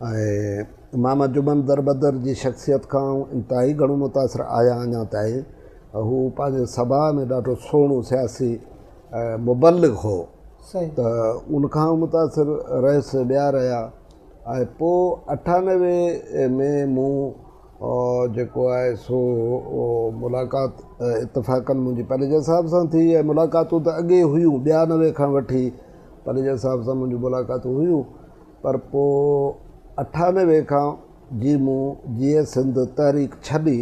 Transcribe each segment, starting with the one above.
۽ امام انجمن دربدر جي شخصيت کان آئون انتهائي گهڻو متاثر آهيان اڃا تائين هو پنهنجي سڀاء ۾ ڏاڍو سهڻو سياسي ۽ مبلغ هو ته ان کان آئون متاثر رهيس ٻيا رهيا ۽ پوء اٺانوي ۾ مون جيڪو آهي سو ملاقات اتفاقاً منهنجي پليجا صاحب سان ٿي ۽ ملاقاتون ته اڳي هيون ٻيانوي کان وٺي پليجا صاحب سان منهنجون ملاقاتون هيون پر پوء اٺانوي کان جي مون جيئي سنڌ تحريڪ ڇڏي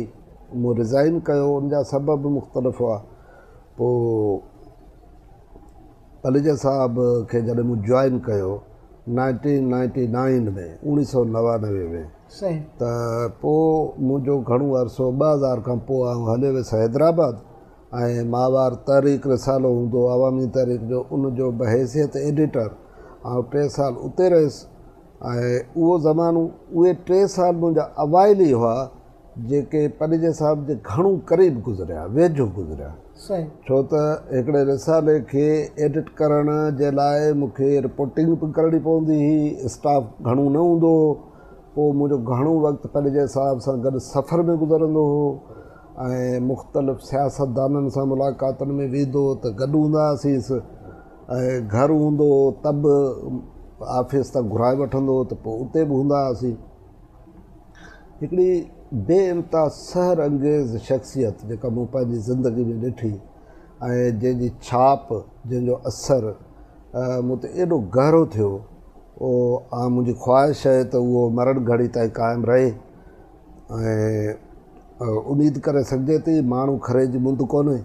مون رزائين ڪيو ان جا سبب به مختلف هئا پوء پليجا صاحب کي جڏهن مون جوائن ڪيو نائنٽين نائنٽي نائن ۾ اوڻي سو نوانوي ۾ صحيح ته پوء منهنجو گهڻو عرصو ٻه هزار کان پوء آئون هليو ويس حيدرآباد ۽ ماهوار تحريڪ رسالو هوندو عوامي تحريڪ جو ان جو بحيثيت ايڊيٽر آئون ٽي سال اتي رهيس ۽ اهو زمانو اهي ٽي سال منهنجا اوائل ئي هئا جيڪي پنهنجي صاحب جي گهڻو قريب گذريا ويجهو گذريا ڇو ته هڪڙي رسالي کي ايڊٽ ڪرڻ جي لاء مون کي رپورٽنگ به ڪرڻي پوندي هئي اسٽاف گهڻو نه هوندو هو پوء منهنجو گهڻو وقت پنهنجي صاحب سان گڏ سفر ۾ گذرندو هو ۽ مختلف سياستدانن سان ملاقاتن ۾ ويندو هو ته گڏ هوندا هئاسيس ۽ گهر هوندو هو ته به آفيس تان گهرائي وٺندو هو ته پوء اتي به هوندا هئاسين. هڪڙي بي انتها سحر انگيز شخصيت جيڪا مون پنهنجي زندگي ۾ ڏٺي ۽ جنهن جي ڇاپ جنهن جو اثر مون تي ايڏو گهرو ٿيو اها منهنجي خواهش آهي ته اهو مرڻ گهڙي تائين قائم رهي ۽ اميد ڪري سگهجي ٿي ماڻهو کري جي مند ڪونهي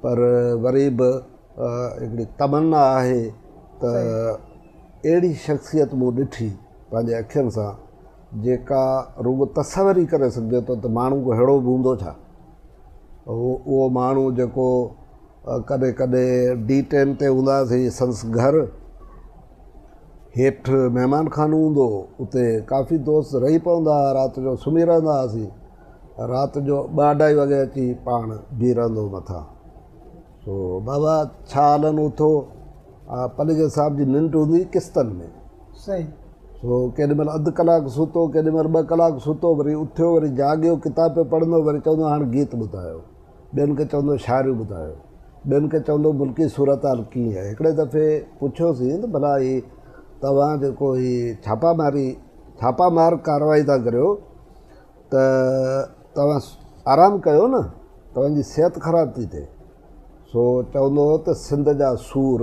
پر وري به هڪڙي تمنا آهي ته اهڙي شخصيت مون ڏٺي پنهنجي اکين سان جيڪا رڳو تصور ئي ڪري سگهجي ٿو ته ماڻهو ڪو ههڙو به هوندو ڇا اهو ماڻهو جيڪو ڪڏهن ڪڏهن ڊي ٽين تي هونداسين سندس گهر هيٺ مهمان خانو هوندو هو، اتي ڪافي دوست رهي پوندا ها، رات جو سمهي رهندا هئاسين، رات جو ٻه اڍائي وڳي اچي پاڻ بيهي رهندو هو مٿان، سو بابا ڇا هلن اٿو، آء پليجي صاحب جي ننڊ هوندي هئي قسطن ۾، سو ڪيڏي مهل اڌ ڪلاڪ ستو، ڪيڏي مهل ٻه ڪلاڪ ستو، وري اٿيو، وري جاڳيو، ڪتاب پيو پڙهندو، وري چوندو هاڻ گيت ٻڌايو. ٻين کي چوندو شاعريون ٻڌايو. ٻين کي چوندو ملڪي صورتحال ڪيئن آهي. هڪڙي دفعي پڇيوسين ته ڀلا هي توهان جيڪو هي ڇاپا ماري ڇاپا مار ڪارروائي ٿا ڪريو ته توهان آرام ڪيو نه توهان جي صحت خراب ٿي ٿئي. سو چوندو هو ته سنڌ جا سور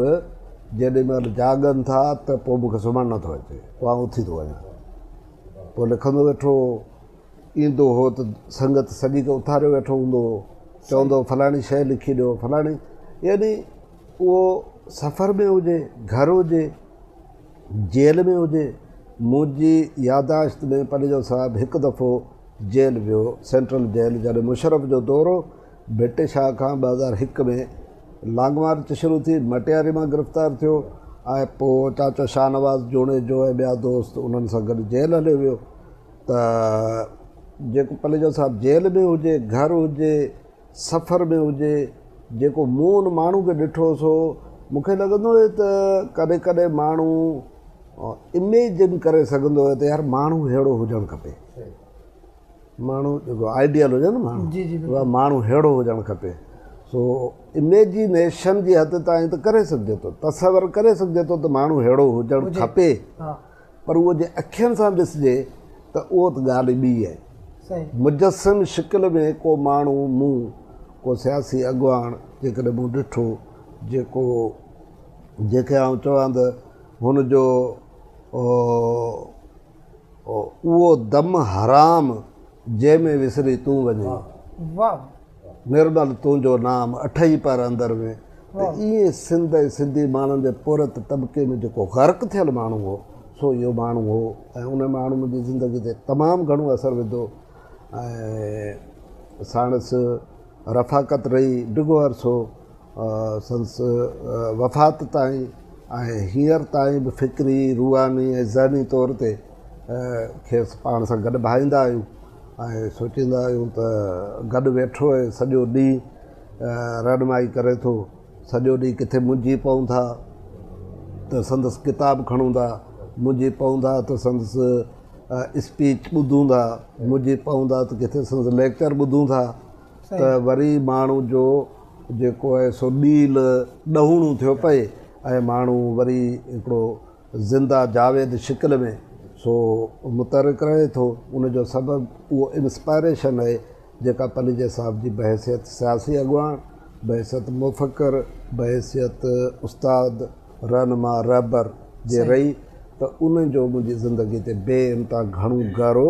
جيڏي مهل جاڳن ٿا ته پوء مون کي سمهڻ نه ٿو اچي. پوء آئون اٿي ٿو وڃان. پوء لکندو ويٺو هو. ايندو هو ته سنگت سڄي کي اٿاريو ويٺو هوندو هو چوندو هو فلاڻي شيء لکي ڏيو فلاڻي يعني اهو سفر ۾ هجي گهر هجي جيل ۾ هجي منهنجي ياداشت ۾ پنهنجو صاحب هڪ دفعو جيل ويو سينٽرل جيل جڏهن مشرف جو دور هو ڀٽي شاهه کان ٻه هزار هڪ ۾ لانگ مارچ شروع ٿي مٽياري مان گرفتار ٿيو ۽ پوء چاچو شاهنواز جوڻيجو ۽ ٻيا دوست انهن سان گڏ جيل هليو ويو ته جيڪو پليجو صاحب جيل ۾ هجي گهر هجي سفر ۾ هجي جيڪو مون ان ماڻهو کي ڏٺو سو مون کي لڳندو هو ته ڪڏهن ڪڏهن ماڻهو اميجن ڪري سگهندو هو ته يار ماڻهو ههڙو هجڻ کپي ماڻهو جيڪو آئيڊيل هجي نه ماڻهو ماڻهو ههڙو هجڻ کپي سو اميجنيشن جي حد تائين ته ڪري سگهجي ٿو تصور ڪري سگهجي ٿو ته ماڻهو ههڙو هجڻ کپي پر اهو جي اکين سان ڏسجي ته اهو ته ڳالهه ئي ٻي آهي. مجسم شڪل ۾ ڪو ماڻهو مون ڪو سياسي اڳواڻ جيڪڏهن مون ڏٺو جيڪو جنهن کي آئون چوان ته هن جو اهو دم حرام جنهن ۾ وسري تون وڃين. نرمل تنهنجو نام اٺئي پهر اندر ۾ ته ائين سنڌ ۽ سنڌي ماڻهن جي پورهيت طبقي ۾ جيڪو غرق ٿيل ماڻهو هو سو اهو ماڻهو هو ۽ ان ماڻهو منهنجي زندگي تي تمام گهڻو اثر وڌو ۽ ساڻس رفاقت رهي ڊگهو عرصو سندس وفات تائين ۽ هينئر تائين به فڪري روحاني ۽ ذهني طور تي کيس پاڻ سان گڏ ڀائيندا آهيون ۽ سوچيندا آهيون ته گڏ ويٺو ۽ سڄو ڏينهن رهنمائي ڪري ٿو، سڄو ڏينهن ڪٿي منجهي پئون ٿا ته سندس ڪتاب کڻون ٿا، منجهي پئون ٿا ته سندس اسپيچ ٻڌون ٿا، منجهي پئون ٿا ته ڪٿي سندس ليڪچر ٻڌون ٿا ته وري ماڻهو جو جيڪو آهي سو ڏيل ڏهوڻو ٿيو پئي ۽ ماڻهو وري هڪڙو زنده جاويد شڪل ۾ سو متحرڪ رهي ٿو ان جو سبب اهو انسپائريشن آهي جيڪا پنهنجي صاحب جي بحيثيت سياسي اڳواڻ بحيثيت مفڪر بحيثيت استاد رهنما رهبر جي رهي ته ان جو منهنجي زندگي تي بي انتها گهڻو گهرو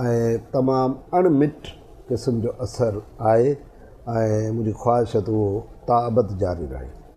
۽ تمام اڻ مٽ قسم جو اثر آهي ۽ منهنجي خواهش ته اهو تاابد جاري رهي.